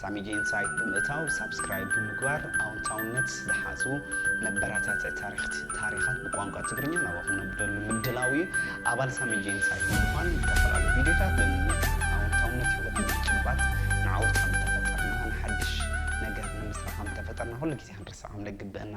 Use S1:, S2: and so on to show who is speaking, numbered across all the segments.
S1: ሳሚጂ ኢንሳይት ብምእታው ሳብስክራይብ ብምግባር ኣውንታውነት ዝሓዙ መበራታትዒ ታሪክት ታሪኻት ብቋንቋ ትግርኛ ናባኹም ነብደሉ ምድላው እዩ። ኣባል ሳሚጂ ኢንሳይት ብምዃን ዝተፈላለዩ ቪድዮታት ብምምት ኣውንታውነት ህይወት ንምጭባጥ ንዓወት ከም ተፈጠርና ንሓድሽ ነገር ንምስራሕ ከም ተፈጠርና ኩሉ ግዜ ክንርስዕ ከም ደግብእና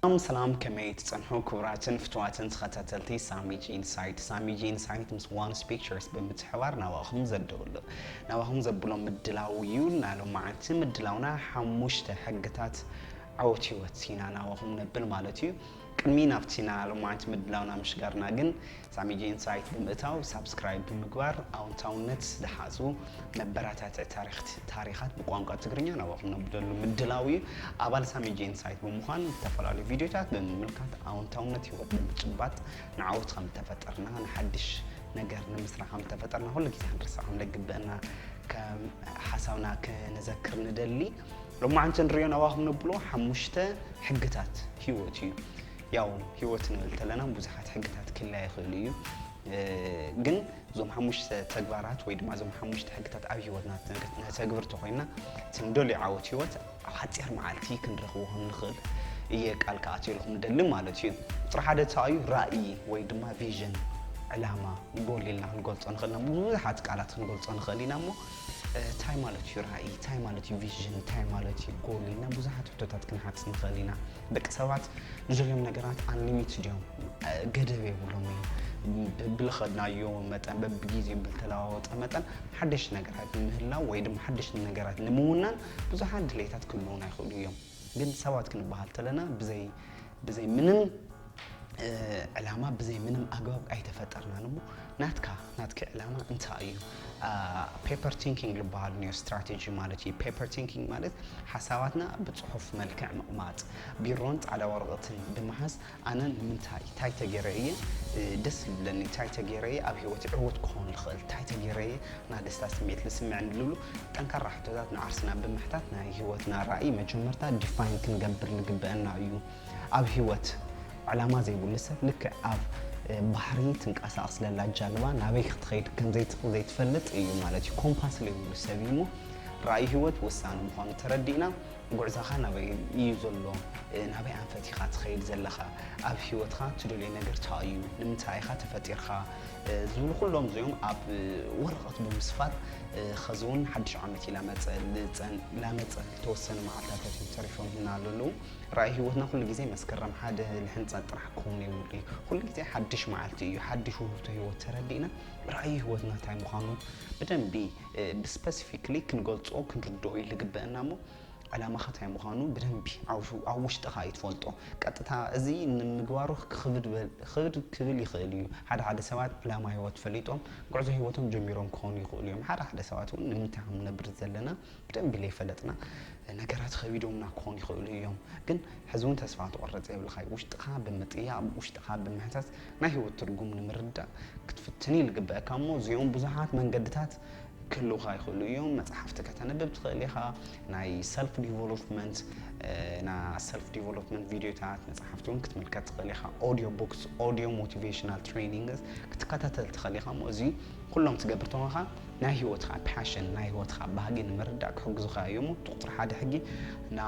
S1: ሰላም ሰላም ከመይ ትጸንሑ ክቡራትን ፍቱዋትን ተኸታተልቲ ሳሚጂ ኢንሳይት ሳሚጂ ኢንሳይት ምስ ዋንስ ፒክቸርስ ብምትሕባር ናባኹም ዘድብሉ ናባኹም ዘብሎ ምድላው እዩ እና ሎማዓንቲ ምድላውና ሓሙሽተ ሕግታት ዓወት ህይወት ኢና ናባኹም ነብል ማለት እዩ ቅድሚ ናብቲ ና ሎማዓንቲ ምድላውና ምሽጋርና ግን ሳሚጂ ኢንሳይት ብምእታው ሳብስክራይብ ብምግባር ኣውንታውነት ዝሓጹ መበራታትዒ ታሪክት ታሪኻት ብቋንቋ ትግርኛ ናባኹም ነብደሉ ምድላው እዩ። ኣባል ሳሚጂ ኢንሳይት ብምዃን ዝተፈላለዩ ቪድዮታት ብምምልካት ኣውንታውነት ህይወት ብምጭባጥ ንዓወት ከም ተፈጠርና ንሓድሽ ነገር ንምስራ ከም ተፈጠርና ኩሉ ግዜ ክንርስዕ ከም ደግበአና ከም ሓሳብና ክንዘክር ንደሊ። ሎማዓንቲ ንሪኦ ናባኹም ነብሎ ሓሙሽተ ሕግታት ህይወት እዩ። ያው ሂወት ንብል ተለና ብዙሓት ሕግታት ክህልያ ይኽእሉ እዩ ግን እዞም ሓሙሽተ ተግባራት ወይ ድማ እዞም ሓሙሽተ ሕግታት ኣብ ሂወትና ነተግብር ተኾይና እቲ ንደልዮ ዓወት ሂወት ኣብ ሓፂር መዓልቲ ክንረኽቦ ከም ንኽእል እየ ቃል ክኣትየልኩም ደሊ ማለት እዩ ቁፅሪ ሓደ ተኣዩ ራእይ ወይ ድማ ቪዥን ዕላማ ጎል ኢልና ክንገልፆ ንኽእል ኢና ብዙሓት ቃላት ክንገልፆ ንኽእል ኢና እሞ እንታይ ማለት እዩ ራእይ እንታይ ማለት እዩ ቪዥን እንታይ ማለት እዩ ጎል ኢልና ብዙሓት ሕቶታት ክንሓትት ንኽእል ኢና ደቂ ሰባት ንዘልዮም ነገራት ኣንሊሚትድ እዮም፣ ገደብ የብሎም እዩ። ብልኸድናዮ መጠን በብጊዜኡ ብልተለዋወጠ መጠን ሓደሽቲ ነገራት ንምህላው ወይ ድማ ሓደሽቲ ነገራት ንምውናን ብዙሓት ድሌታት ክህልውና ይኽእሉ እዮም። ግን ሰባት ክንበሃል ተለና ብዘይ ብዘይ ምንም ዕላማ ብዘይ ምንም ኣግባብ ኣይተፈጠርናን እሞ ናትካ ናትኪ ዕላማ እንታይ እዩ? ፔፐር ቲንኪንግ ዝበሃል ኒዮ ስትራቴጂ ማለት እዩ። ፔፐር ቲንኪንግ ማለት ሓሳባትና ብፅሑፍ መልክዕ ምቕማጥ፣ ቢሮን ፃዕዳ ወረቐትን ብምሓዝ ኣነ ንምንታይ እንታይ ተገይረ እየ ደስ ዝብለኒ፣ እንታይ ተገይረ እየ ኣብ ሂወት ዕውት ክኾን ዝኽእል፣ እንታይ ተገይረ እየ ናይ ደስታ ስምዒት ዝስምዐኒ ዝብሉ ጠንካራ ሕቶታት ንዓርስና ብምሕታት ናይ ሂወትና ራእይ መጀመርታ ዲፋይን ክንገብር ዝግበአና እዩ። ኣብ ህይወት ዕላማ ዘይብሉ ሰብ ልክዕ ኣብ ባሕሪ ትንቀሳቐስ ለላ ጃልባ ናበይ ክትኸይድ ከም ዘይትፈልጥ እዩ ማለት እዩ። ኮምፓስ ዘይብሉ ሰብ እዩ እሞ ራእይ ህይወት ወሳኒ ምዃኑ ተረዲእና ጉዕዛኻ ናበይ እዩ ዘሎ ናበይ ኣንፈት ኢኻ ትኸይድ ዘለኻ ኣብ ህይወትካ ትደልዮ ነገር እንታይ እዩ ንምንታይ ኢኻ ተፈጢርካ ዝብሉ ኩሎም እዚኦም ኣብ ወረቐት ብምስፋር ኸዚ እውን ሓድሽ ዓመት እዩ ላመፀ ላመፀ ዝተወሰኑ መዓልታታት እዮም ተሪፎም ህና ኣለዉ ራእይ ህይወትና ኩሉ ግዜ መስከረም ሓደ ልሕንጸት ጥራሕ ክኸውን የብሉ እዩ። ኩሉ ግዜ ሓድሽ መዓልቲ እዩ፣ ሓድሽ ውህብቶ ህይወት ተረዲእና ራእይ ህይወትና እንታይ ምዃኑ ብደንቢ ብስፐሲፊክሊ ክንገልጾ ክንርድኦ እዩ ልግበእና እሞ ዕላማኻ እንታይ ምዃኑ ብደንቢ ኣብ ውሽጥኻ እዩ ትፈልጦ። ቀጥታ እዚ ንምግባሩ ክኽብድ ክብል ይኽእል እዩ። ሓደ ሓደ ሰባት ዕላማ ህይወት ፈሊጦም ጉዕዞ ህይወቶም ጀሚሮም ክኾኑ ይኽእሉ እዮም። ሓደ ሓደ ሰባት እውን ንምንታይ ከም ንነብር ዘለና ብደንቢ ለይፈለጥና ነገራት ኸቢዶምና ክኾኑ ይኽእሉ እዮም ግን ሕዚ እውን ተስፋ ክትቆርፅ የብልኻይ ውሽጥኻ ብምጥያቕ ውሽጥኻ ብምሕታት ናይ ህይወት ትርጉም ንምርዳእ ክትፍትን እዩ ልግበአካ እሞ እዚኦም ብዙሓት መንገድታት ክህልውኻ ይኽእሉ እዮም መፅሓፍቲ ከተንብብ ትኽእል ኢኻ ናይ ሰልፍ ዲቨሎፕመንት ና ሰልፍ ዲቨሎፕመንት ቪድዮታት መፅሓፍቲ እውን ክትምልከት ትኽእል ኢኻ ኦዲዮ ቡክስ ኦዲዮ ሞቲቬሽናል ትሬኒንግስ ክትከታተል ትኽእል ኢኻ እሞ እዚ ኩሎም ትገብር ተኾንካ ናይ ህይወትኻ ፓሽን፣ ናይ ህይወትኻ ባህጊ ንምርዳእ ክሕግዙኻ እዮም እሞ፣ እቲ ቁጽሪ ሓደ ሕጊ ን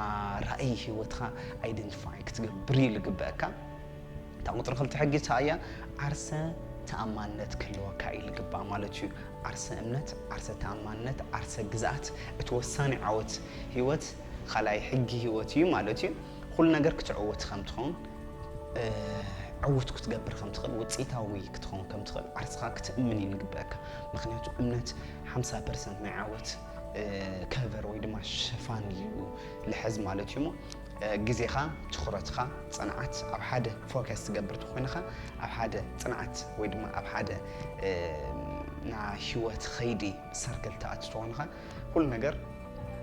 S1: ራእይ ህይወትኻ ኣይደንቲፋይ ክትገብር እዩ ልግበእካ። እታ ቁጽሪ ክልተ ሕጊ እሳ እያ፣ ዓርሰ ተኣማንነት ክህልወካ እዩ ልግባእ ማለት እዩ። ዓርሰ እምነት፣ ዓርሰ ተኣማንነት፣ ዓርሰ ግዝኣት፣ እቲ ወሳኒ ዓወት ህይወት ኻልኣይ ሕጊ ህይወት እዩ ማለት እዩ። ኹሉ ነገር ክትዕወት ከም ትኸውን ዕውት ክትገብር ከም ትኽእል ውፅኢታዊ ክትኸውን ከም ትኽእል ዓርስኻ ክትእምን እዩ ዝግበአካ ምክንያቱ እምነት 50 ፐርሰንት ናይ ዓወት ከቨር ወይ ድማ ሽፋን እዩ ልሕዝ ማለት እዩ እሞ ግዜኻ ትኹረትኻ ፅንዓት ኣብ ሓደ ፎከስ ትገብር ተኮይንኻ ኣብ ሓደ ፅንዓት ወይ ድማ ኣብ ሓደ ናይ ሂወት ኸይዲ ሰርክል ትኣቱ ተኮይንኻ ኩሉ ነገር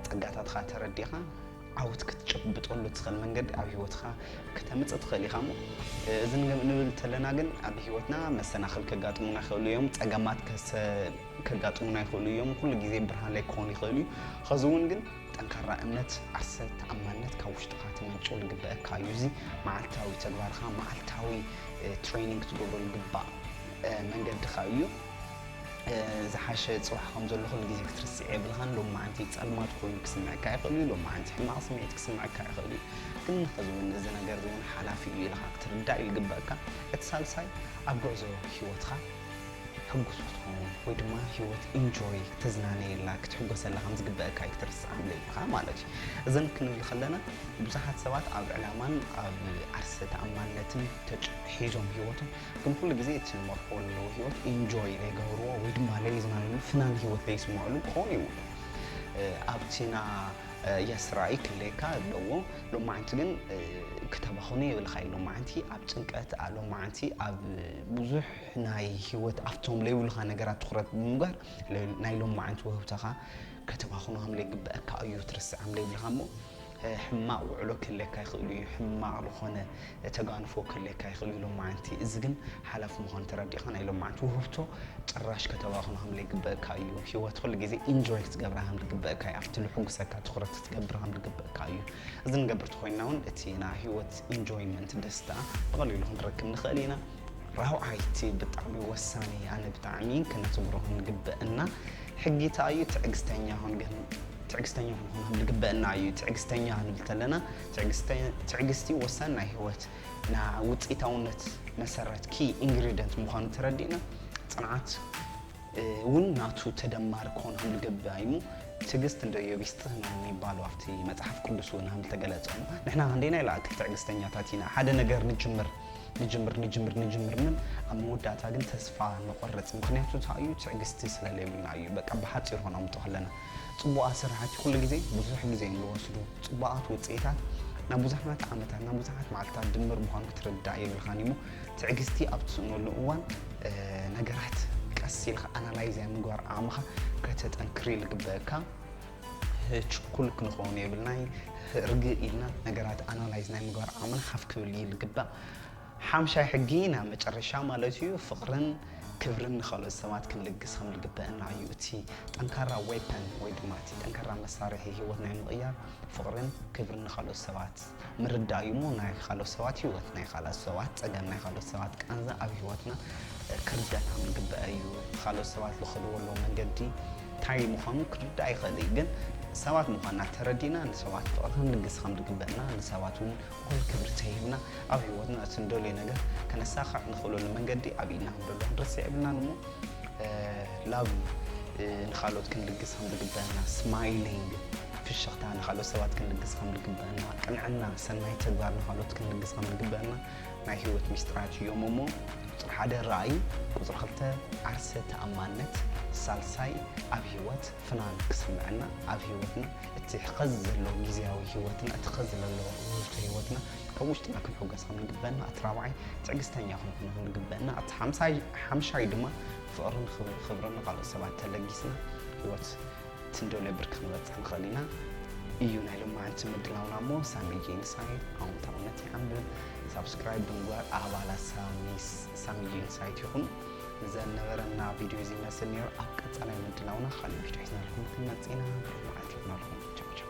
S1: ፀጋታትኻ ተረዲኻ ዓወት ክትጭብጠሉ ትኽእል መንገዲ ኣብ ሂወትካ ከተምጽእ ትኽእል ኢኻ እሞ እዚ ንብል ተለና ግን ኣብ ሂወትና መሰናኽል ከጋጥሙና ይኽእሉ እዮም ጸገማት ከጋጥሙና ይኽእሉ እዮም ኩሉ ግዜ ብርሃን ላይ ክኾኑ ይኽእሉ እዩ ኸዚ እውን ግን ጠንካራ እምነት ዓርሰ ተኣማንነት ካብ ውሽጥኻ ትመንጩ ዝግበአካ እዩ እዚ መዓልታዊ ተግባርካ መዓልታዊ ትሬኒንግ ክትገብረሉ ግባእ መንገድኻ እዩ ዝሓሸ ጽባሕ ከም ዘሎ ኩሉ ግዜ ክትርስዕ የብልኻን። ሎማዓንቲ ጸልማት ኮይኑ ክስምዐካ ይኽእል እዩ፣ ሎማዓንቲ ሕማቕ ስምዒት ክስምዐካ ይኽእል እዩ። ግን ሕዚ እውን እዚ ነገር እዚ እውን ሓላፊ እዩ ኢልኻ ክትርዳእ እዩ ዝግበኣካ። እቲ ሳልሳይ ኣብ ጉዕዞ ህይወትኻ ሕጉስ ክትኸውን ወይ ድማ ህይወት ኢንጆይ ተዝናነየላ ክትሕጎሰላ ከም ዝግበኣካ እዩ ክትርስዓ ዘይብልኻ ማለት እዩ። እዘን ክንብል ከለና ብዙሓት ሰባት ኣብ ዕላማን ኣብ ዓርሰ ተኣማንነትን ተጭ ሒዞም ህይወቶም ግን ኩሉ ግዜ እቲ ዝመርሕዎ ዘለዉ ህይወት ኢንጆይ ዘይገብርዎ ወይ ድማ ለሊ ዝናለሉ ፍናን ህይወት ዘይስምዕሉ ክኾኑ ይብሉ ኣብቲ ና የስ ራእይ ክለካ ኣለዎ ሎማዓንቲ ግን ክተባኽኑ የብልኻይ ሎማዓንቲ ኣብ ጭንቀት ሎማዓንቲ ኣብ ብዙሕ ናይ ህይወት ኣብቶም ለይብሉኻ ነገራት ትኩረት ብምግባር ናይ ሎማዓንቲ ወህብተኻ ከተባኽኑ ከም ለይግበአካ እዩ ትርስዕ ከም ለይብልኻ እሞ ሕማቕ ውዕሎ ክህልየካ ይኽእሉ እዩ፣ ሕማቕ ዝኾነ ተጋንፎ ክህልየካ ይኽእልዩ ሎማዕንቲ፣ እዚ ግን ሓላፍ ምዃኑ ተረዲእኻ ናይ ሎማዕንቲ ውህብቶ ጭራሽ ከተባኽኖ ከምለይግበእካ እዩ፣ ሂወት ኹሉ ግዜ ኢንጆይ ክትገብራ ከምልግበእካ እዩ፣ ኣብቲ ልሕጉሰካ ትኹረት ክትገብር ከምልግበእካ እዩ፣ እዚ ንገብር ተኾይንና ውን እቲ ናይ ሂወት ኢንጆይመንት ደስታ ብቐሊሉ ክንረክብ ንኽእል ኢና። ራብዓይ እቲ ብጣዕሚ ወሳኒ ኣነ ብጣዕሚ ክነትግሮ ክንግበእና ሕጊ እታ እዩ ትዕግስተኛ ኹን ግን ትዕግስተኛ ክንኾን ዝግበእና እዩ ትዕግስተኛ ክንብል ተለና ትዕግስቲ ወሳኒ ናይ ህይወት ና ውፅኢታውነት መሰረት ኪ ኢንግሪደንት ምዃኑ ተረዲእና ፅንዓት እውን ናቱ ተደማሪ ክኾን ከም ዝግበእ እዩ እሞ ትዕግስት እንደ ኢዮብ ይስጥህ ነው የሚባለው ኣብቲ መጽሐፍ ቅዱስ እውን ከም ዝተገለጸ እሞ ንሕና ክንደይና ኢላ ትዕግስተኛታት ኢና ሓደ ነገር ንጅምር ንጅምር ንጅምር ንጅምር ን ኣብ መወዳእታ ግን ተስፋ ንቆርፅ ምክንያቱ እንታይ እዩ ትዕግስቲ ስለለይብልና እዩ በቃ ብሓፂር ሆኖምጡ ከለና ፅቡቃት ስራሕቲ ኩሉ ግዜ ብዙሕ ግዜ እዮም ዝወስዱ ፅቡቃት ውፅኢታት ናብ ብዙሓት ዓመታት ናብ ብዙሓት መዓልትታት ድምር ምዃኑ ክትርዳእ የብልኻን እሞ ትዕግስቲ ኣብ ትስእነሉ እዋን ነገራት ቀስ ኢልካ ኣናላይዝ ምግባር ዓቕምኻ ከተጠንክሪ ልግበእካ ችኩል ክንኸውን የብልናይ ርግእ ኢልና ነገራት ኣናላይዝ ናይ ምግባር ዓቕምና ሓፍ ክብል እዩ ልግባእ ሓምሻይ ሕጊ ናብ መጨረሻ ማለት እዩ ፍቕርን ክብርን ንካልኦት ሰባት ክንልግስ ከም ዝግበአና እዩ እቲ ጠንካራ ዌፐን ወይ ድማ እቲ ጠንካራ መሳርሒ ሂወት ናይ ምቕያር ፍቕርን ክብርን ንካልኦት ሰባት ምርዳእ እዩ እሞ ናይ ካልኦት ሰባት ሂወት ናይ ካልኦት ሰባት ፀገም ናይ ካልኦት ሰባት ቃንዛ ኣብ ሂወትና ክርደና ምግበአ እዩ ካልኦት ሰባት ዝኸድዎ ኣለዎ መንገዲ እንታይ ምዃኑ ክርዳእ ይኽእል እዩ ግን ሰባት ምዃንና ተረዲና ንሰባት ፍቕሪ ክንልግስ ከም ዝግበእና ንሰባት እውን እኹል ክብሪ ተሂብና ኣብ ሂወትና እቲ ንደልዮ ነገር ከነሳኽዕ ንኽእለሉ መንገዲ ኣብ ኢድና ከም ዘሎ ክንርስዕ የብልናን እሞ ላብ ንካልኦት ክንልግስ ከም ዝግበእና ስማይሊንግ ፍሽኽታ ንኻልኦት ሰባት ክንልግስ ከም ዝግበአና፣ ቅንዕና፣ ሰናይ ተግባር ንኻልኦት ክንልግስ ከም ዝግበአና ናይ ህይወት ሚስጥራት እዮም እሞ ቁፅሪ ሓደ ራእይ፣ ቁፅሪ ክልተ ዓርሰ ተኣማንነት፣ ሳልሳይ ኣብ ህይወት ፍናን ክስምዐና ኣብ ህይወትና እቲ ሕኸዚ ዘለዎ ግዜያዊ ህይወትና እቲ ሕኸዚ ዘለዎ ውህብቶ ህይወትና ካብ ውሽጥና ክንሕጎስ ከም ዝግበአና እቲ ራብዓይ ትዕግስተኛ ክንኾን ከም ዝግበአና እቲ ሓምሳይ ሓምሻይ ድማ ፍቕርን ክብርን ንኻልኦት ሰባት ተለጊስና ህይወት ትንደልዮ ብርኪ ክንበፅሕ ንኽእል ኢና እዩ ናይ ሎማዓንቲ ምድላውና እሞ ሳሚ ጄንሳይት ኣውንታውነት ይዓምብል ሳብስክራይብ ብምግባር ኣባላት ሳሚ ጄንሳይት ይኹን ዘነበረና ቪድዮ እዚ ይመስል ነይሩ ኣብ ቀፃላይ ምድላውና ካልእ ቪድዮ ሒዝናልኩም ክንመፅእ ኢና ብሩህ መዓልቲ ይኹናልኩም ቻው ቻው